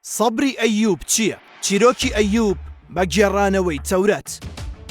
سەبری ئەیوب چییە؟ چیرۆکی ئەیوب بە گێڕانەوەی تەورات.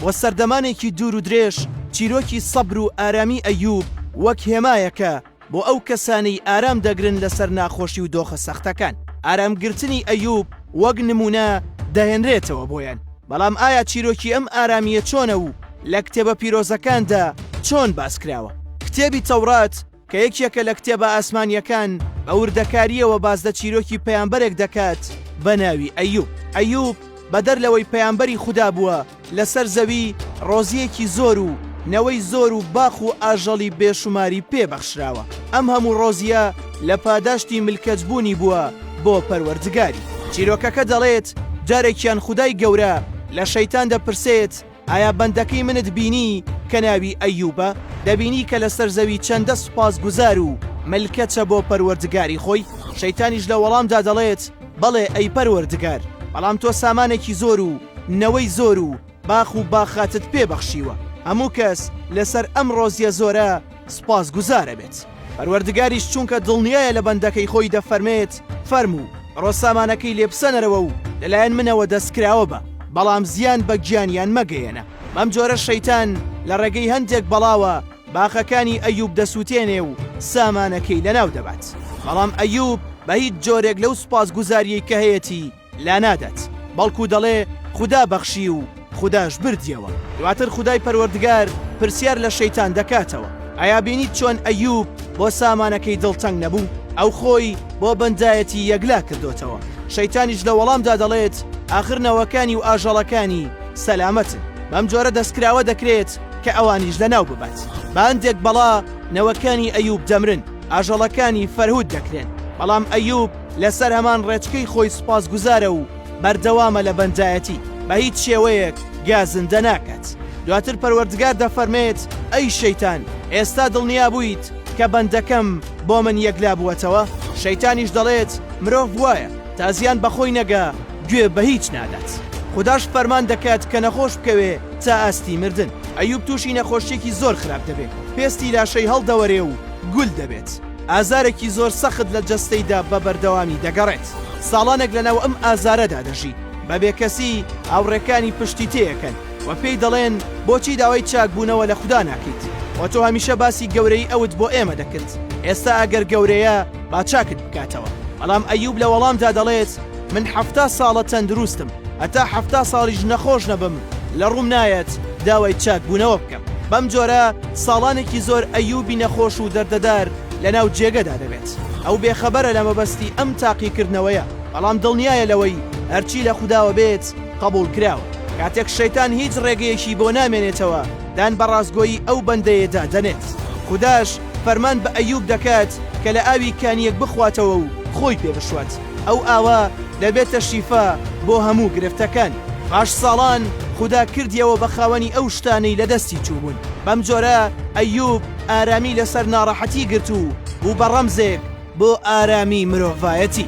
بۆ سەردەمانێکی دوور و درێژ چیرۆکی سەبر و ئارامی ئەیوب وەک هێمایەکە بۆ ئەو کەسانەی ئارام دەگرن لەسەر ناخۆشی و دۆخە سەختەکان. ئارامگرتنی ئەیوب وەک نموونە دەهێنرێتەوە بۆیان. بەڵام ئایا چیرۆکی ئەم ئارامییە چۆنە و لە کتێبە پیرۆزەکاندا چۆن باس کراوە؟ کتێبی تەورات، کە یەکێکە لە کتێبە ئاسمانییەکان، بە وردەکارییەوە باس لە چیرۆکی پەیامبەرێک دەکات بە ناوی ئەیوب. ئەیوب بەدەر لەوەی پەیامبەری خودا بووە، لەسەر زەوی ڕۆزییەکی زۆر و نەوەی زۆر و باخ و ئاژەڵی بێشوماری پێ بەخشراوە. ئەم هەموو ڕۆزییە لە پاداشتی ملکەچبوونی بووە بۆ پەروەردگاری. چیرۆکەکە دەڵێت، جارێکیان خودای گەورە لە شەیتان دەپرسێت، ئایا بەندەکەی منت بینی کە ناوی ئەیوبە؟ دەبینی کە لەسەر زەوی چەندە سوپاسگوزار و ملکەچە بۆ پەروەردگاری خۆی؟ شەیتانیش لە وەڵامدا دەڵێت، بەڵێ ئەی پەروەردگار، بەڵام تۆ سامانێکی زۆر و نەوەی زۆر و باخ و باخاتت پێ بەخشیوە، هەموو کەس لەسەر ئەم ڕۆزییە زۆرە سوپاس گوزارەبێت پەروەردگاریش چونکە دڵنیایە لە بەندەکەی خۆی دەفەرمێت فەرموو بڕۆ سامانەکەی لێ بسەنەرەوە و لەلایەن منەوە دەستکراوە بە بەڵام زیان بە گیانیان مەگەیەنە بەم جۆرە شەیتان لە ڕێگەی هەندێک بەڵاوە باخەکانی ئەیوب دەسووتێنێ و سامانەکەی لەناو دەبات بەڵام ئەیوب بە هیچ جۆرێک لەو سوپاس گوزاریەی کە هەیەتی لانادات بەڵکو دەڵێ خودا بەخشی و خوداش بردیەوە دواتر خودای پەروەردگار پرسیار لە شەیتان دەکاتەوە ئایا بینیت چۆن ئەیوب بۆ سامانەکەی دڵتەنگ نەبوو ئەو خۆی بۆ بەندایەتی یەکلا کردوتەوە شەیتانیش لە وەڵامدا دەڵێت ئاخر نەوەکانی و ئاژەڵەکانی سەلامەتن بەم جۆرە دەستکراوە دەکرێت کە ئەوانیش لە ناو ببات باندێک بەڵا نەوەکانی ئەیوب دەمرن ئاژەڵەکانی فەرهود دەکرێن بەڵام ئەیوب لەسەر هەمان ڕێچکەی خۆی سوپاسگوزارە و بەردەوامە لە بەندایەتی، بە هیچ شێوەیەک گا زندە ناکات. دواتر پەروەردگار دەفەرمێت، ئەی شەیتان، ئێستا دڵنیا بوویت کە بەندەکەم بۆ من یەکلا بووەتەوە؟ شەیتانیش دەڵێت، مرۆڤ وایە، تا زیان بە خۆی نەگا، گوێ بە هیچ نادات. خوداش فەرمان دەکات کە نەخۆش بکەوێ تا ئاستی مردن. ئەیوب تووشی نەخۆشییەکی زۆر خراپ دەبێ، پێستی لاشەی هەڵدەوەرێ و گول دەبێت. ئازارێکی زۆر سەخت لە جەستەیدا بە بەردەوامی دەگەڕێت، ساڵانێک لەناو ئەم ئازارەدا دەژی، بە بێکەسی، هاوڕێکانی پشتی تێکەن و پێی دەڵێن، بۆچی داوای چاکبوونەوە لە خودا ناکەیت؟ وە تۆ هەمیشە باسی گەورەیی ئەوت بۆ ئێمە دەکرد، ئێستا ئەگەر گەورەیە با چاکت بکاتەوە. بەڵام ئەیوب لە وەڵامدا دەڵێت، من حەفتا ساڵە تەندروستم، هەتا حەفتا ساڵیش نەخۆش نەبم، لە ڕووم نایەت داوای چاکبوونەوە بکەم. بەم جۆرە ساڵانێکی زۆر ئەیوبی نەخۆش و دەردەدار لەناو جێگەدا دەبێت، ئەو بێخەبەرە لە مەبەستی ئەم تاقیکردنەوەیە، بەڵام دڵنیایە لەوەی هەرچی لە خوداوە بێت قەبوڵکراوە، کاتێک شەیتان هیچ ڕێگەیەکی بۆ نامێنێتەوە دان بە ڕاستگۆیی ئەو بەندەیەدا دەنێت، خوداش فەرمان بە ئەیوب دەکات کە لە ئاوی کانییەک بخواتەوە و خۆی پێ بشوات. ئەو ئاوە دەبێتە شیفا بۆ هەموو گرفتەکان. پاش ساڵان خودا کردیەوە بە خاوەنی ئەو شتانەی لە دەستی چووبوون بەم جۆرە ئەیوب ئارامی لەسەر ناڕەحەتی گرت و بوو بە ڕەمزێک بۆ ئارامی مرۆڤایەتی.